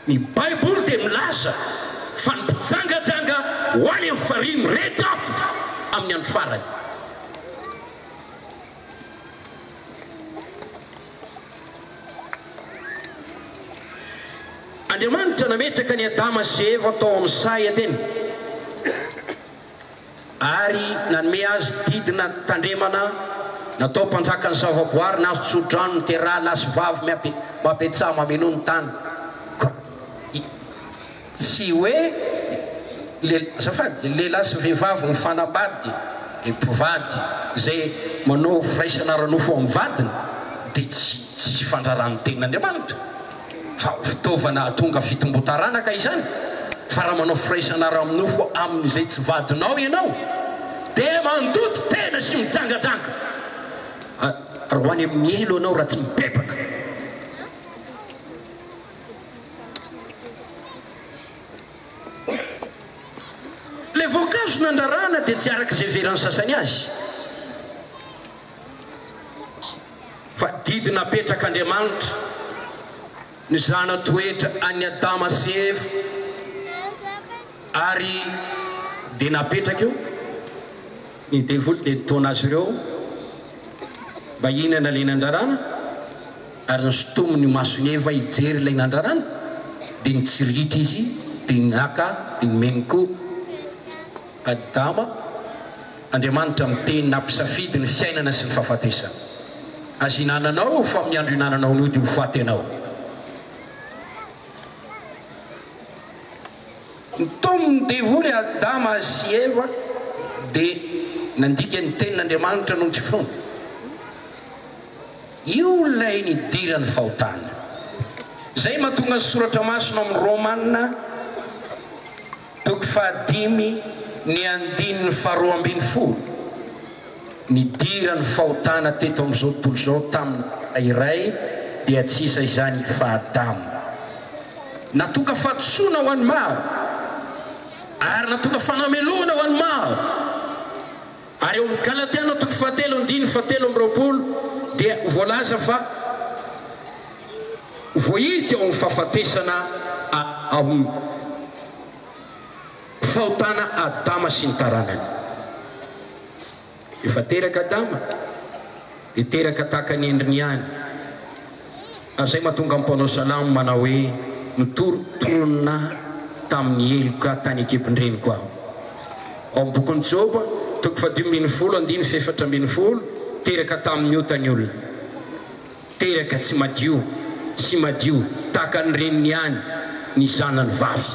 Ny Baiboly dia milaza fa ny mpijangajanga ho any amin'ny farihy mirehitra afo amin'ny andro farany. Andriamanitra nametraka an'i Adama sy Eva tao amin'ny sahy Edena. ary nanome azy didina tandremana natao mpanjakan'ny zavaboary nazo tsodrano ny teraha lahy sy vavy miabe mabetsaha mameno ny tany koa i tsy hoe le azafady lehilahy sy vehivavy mifanambady le mpivady zay manao firaisana ara-nofo amin'ny vadiny dia tsy tsisy fandraràn'ny tenin'Andriamanitra fa fitaovana hahatonga fitomboan-taranaka izany, fa raha manao firaisana ara-nofo amin'izay tsy vadinao ianao dia mandoto tena sy mijangajanga ary ho any amin'ny helo ianao raha tsy mibebaka. Ilay voankazo nandrarana dia tsy araka izay heveran'ny sasany azy. Fa didy napetrak'Andriamanitra ny zana-toetra an'i Adama sy Eva, ary dia napetraka eo, ny devoly dia nitaona azy ireo mba hihinana ilay nandrarana, ary nosintominy ny mason'i Eva hijery ilay nandrarana, dia nitsirihitra izy, dia naka, dia nomeny koa. Adama, Andriamanitra miteny nampisafidy ny fiainana sy ny fahafatesana. Aza hinananao, fa amin'ny andro hinananao ny ody ho faty ianao. Nitonin'ny devoly Adama sy Eva dia nandika ny tenin'Andriamanitra noho ny tsy finoana. Io ilay nidiran'ny fahotana. Izay mahatonga ny soratra masina ao amin'ny Romana. Toko fahadimy ny andininy faharoa ambin'ny folo, Nidira ny fahotana teto amin'izao tontolo izao tamin'ny dala iray, dia tsy iza izany i fa Adama. Natoka fahadisoana ho an'ny maro, ary natoka fanamelohana ho an'ny maro. Ary ao amin'ny Galatiana toko fahatelo andininy fahatelo amby roapolo dia voalaza fa voahidy teo amin'ny fahafatesana ao amin'ny fahotana Adama sy ny taranany. Efa teraka Adama. Dia teraka tahaka ny endriny ihany. Ary izay mahatonga ny mpanao salamo manao hoe, Nitorontoronina tamin'ny heloka tany an-kibon-dreniko aho. Ao amin'ny bokin'i Joba, toko fahadimy ambin'ny folo, andininy fahefatra ambin'ny folo, Teraka tamin'ny ota ny olona. Teraka tsy madio sy madio tahaka ny reniny ihany ny zanany vavy.